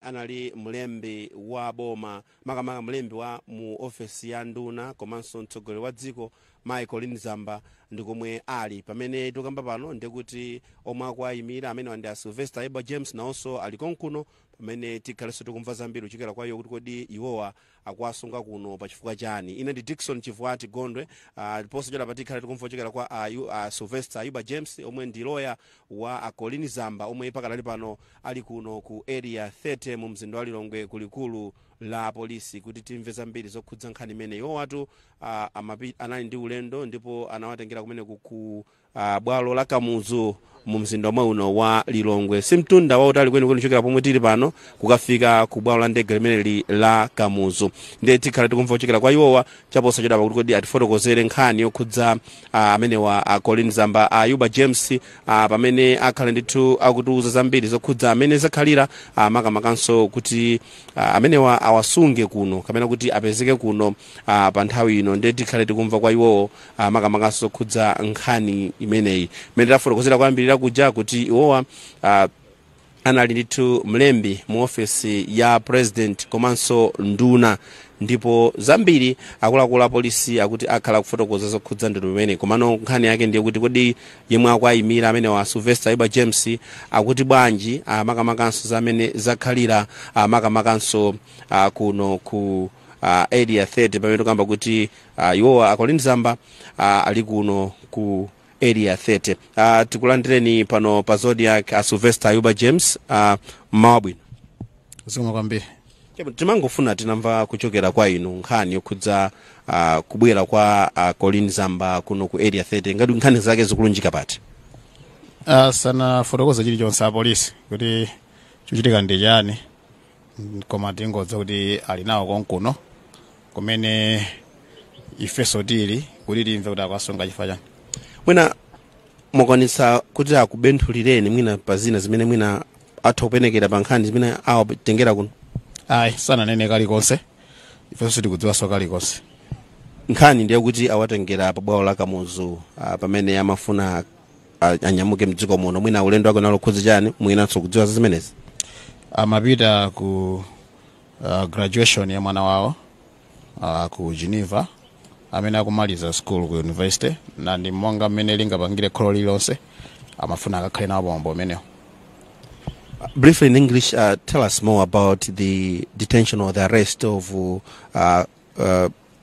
anali mlembi wa boma makamaka mlembi wa mu ofesi ya nduna komanso mtsogoleri wa dziko mayi colleen zamba ndi komwe ali pamene tikamba pano ndikuti omwe akuwayimira amenewa ndi a sylvester ayuba james nawonso ali konkuno pamene tikhalenso tikumva zambiri kuchokera kwa iwo kuti kodi iwowa akuwasunga kuno pa chifukwa chani ine ndi dickson chivwati gondwe ah, ndiponso chadapa tikhala tikumva kuchokera kwa ayu ah, sylvester ayuba james omwe ndi loya wa a colleen zamba omwe pakadali pano ali kuno ku area 30 mu mzinda wa lilongwe ku likulu la polisi kuti timve zambiri zokhudza nkhani imeneyi iwowatu ah, amapi- anali ndi ulendo ndipo anawatengera kumene ku a bwalo la kamuzu mu mzinda omwe uno wa lilongwe si mtunda wautali kwenikweni kuchokera pomwe tili pano kukafika ku bwalo la ndege limeneli la kamuzu ndiye tikhala tikumva kuchokera kwa iwowa chaposachedwapa kuti kodi atifotokozere nkhani yokhudza ah, amenewa a colleen zamba ayuba james ah, pamene akhala ndithu akutiuza zambiri zokhudza mmene zakhalira ah, makamakanso kuti ah, amenewa awasunge kuno kapena kuti apezeke kuno ah, pa nthawi ino ndiye tikhale tikumva kwa iwowo makamakanso zokhudza nkhani imeneyi mmene tafotokozera kuyambirira kuja kuti iwowa ah, anali ndithu mlembi mu ofesi ya president komanso nduna ndipo zambiri akuluakulu apolisi akuti akhala akufotokoza zokhudza ndithu imeneyi komano nkhani yake ndiye kuti kodi yemwe akuwayimira amenewa sylvester ayuba james akuti bwanji ah, makamakanso za mmene zakhalira ah, makamakanso ah, kuno ku uh, area 30 pamene tikamba kuti Uh, iwowa a colleen zamba uh, ali kuno ku area 30 uh, tikulandireni pano pa zodiak uh, sylvester ayuba james uh, mmawa wabwino zikomo kwambiri Chabwino, timangofuna tinamva kuchokera kwa inu nkhani yokhudza uh, kubwera kwa uh, colleen zamba kuno ku area 30 ngati nkhani zake zikulunjika pati sanafotokoze chilichonse apolisi kuti chochitika ndi chani koma tingodziwa kuti ali nawo konkuno kumene ifeso tili kuti timve kuti akuwasunga chifukwa chani mwina akwanitsa kuti akubenthulireni mwina pa zina zimene mwina atha kupenekera pa nkhani zimene awatengera kuno ayi sananene kalikonse ifenso sitikudziwanso kalikonse nkhani ndiye kuti awatengera pa bwalo la kamuzu ah, pamene amafuna a- anyamuke mdziko muno mwina ulendo wake unali wokhudza chani mwina mukudziwa za zimenezi amapita ku uh, graduation ya mwana wawo uh, ku geneva amene akumaliza school ku university na ndi monga mmene lingapangire kholo lililonse amafuna akakhale nawo pamwambo umenewo briefly in english uh, tell us more about the detention or the arrest of uh, uh,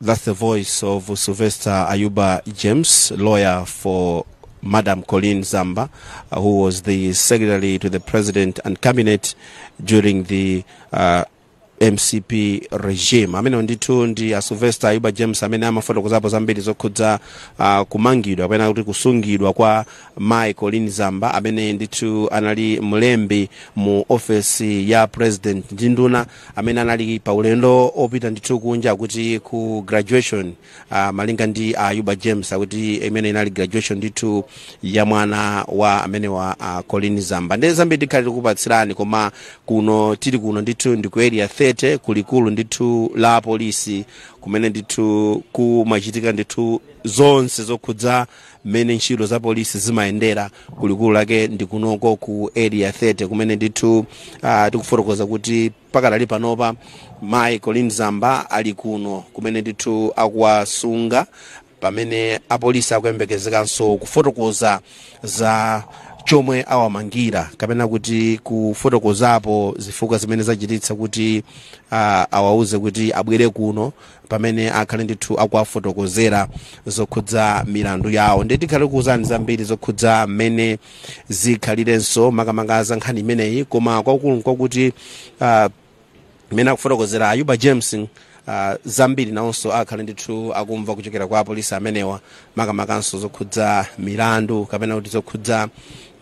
That's the voice of Sylvester Ayuba James, lawyer for Madam Colleen Zamba, uh, who was the secretary to the president and cabinet during the uh, mcp regime amene ndithu ndi a sylvester ayuba james amene amafotokozapo zambiri zokhudza uh, kumangidwa kapena kuti kusungidwa kwa mai colleen zamba amene ndithu anali mlembi mu ofesi ya president ndi nduna amene anali pa ulendo opita ndithu kunja kuti ku graduation uh, malinga ndi uh, Ayuba James akuti imene inali graduation ndithu ya mwana wa amenewa uh, a Colleen Zamba ndiye zambiri tikhale tikupatsirani koma kuno tili kuno ndithu ndi ku area 30 kulikulu ndithu la polisi kumene ndithu kumachitika ndithu zonse zokhudza mmene ntchito za polisi zimayendera kulikulu lake ndi kunoko ku area 30 kumene ndithu uh, tikufotokoza kuti pakadali panopa mayi colleen zamba ali kuno kumene ndithu akuwasunga pamene apolisi akuyembekezekanso kufotokoza za chomwe awamangira kapena kuti kufotokozapo zifukwa zimene zachititsa kuti uh, awauze kuti abwere kuno pamene akhale ndithu akuwafotokozera zokhudza milandu yawo ndiye tikhale tikuwuzani zambiri zokhudza mmene zikhalirenso makamaka za nkhani imeneyi koma kwakukulu nkwakuti uh, mmene akufotokozera ayuba james uh, zambiri nawonso akhale ndithu akumva kuchokera kwa apolisi amenewa makamakanso zokhudza milandu kapena kuti zokhudza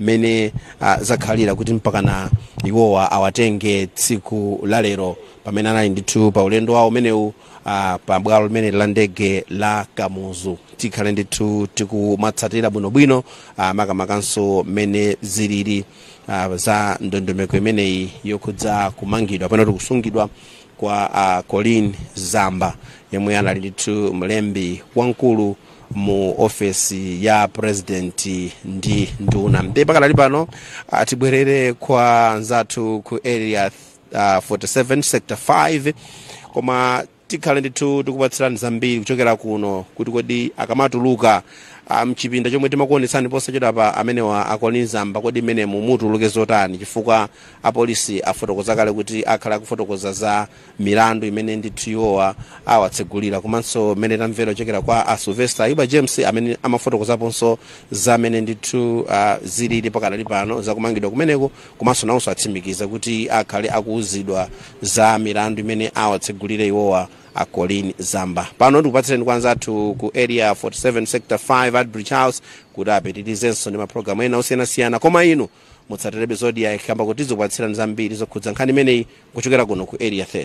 mmene uh, zakhalira kuti mpakana iwowa awatenge tsiku lalero pamene anali ndithu pa ulendo wawo umenewu ah, pa bwalo limeneli la ndege la kamuzu tikhale ndithu tikumatsatira bwinobwino ah, makamakanso mmene zilili ah, za ndondomeko imeneyi yokhudza kumangidwa kapena kuti kusungidwa kwa ah, colleen zamba yemwe anali ndithu mlembi wamkulu mu ofesi ya president ndi nduna ndiye pakadali pano ah, tibwerere kwa anzathu ku area uh, 47 sector 5 koma tikhale ndithu tikupatsirani zambiri kuchokera kuno kuti kodi akamatuluka ah, mchipinda chomwe timakuonetsani posachedwapa amenewa a colleen zamba kodi mmenemu mutuluke zotani chifukwa apolisi afotokoza kale kuti akhala akufotokoza za milandu imene ndithu iwowa awatsegulira komanso mmene tamvera kuchokera kwa a sylvester ayuba james amene amafotokozaponso za mmene ndithu ah, zilili pakadali pano zakumangidwa kumeneko komanso nawonso atsimikiza kuti akhale akuuzidwa za milandu imene awatsegulire iwowa a colleen zamba pano ndikupatsireni kwa anzathu ku area 47 sector 5 artbridge house kuti apitirizenso ndi mapulogalamu ena osiyanasiyana koma inu mutsatirebe zodiak kamba koti izikupatsirani zambiri zokhudza nkhani imeneyi kuchokera kuno ku area 30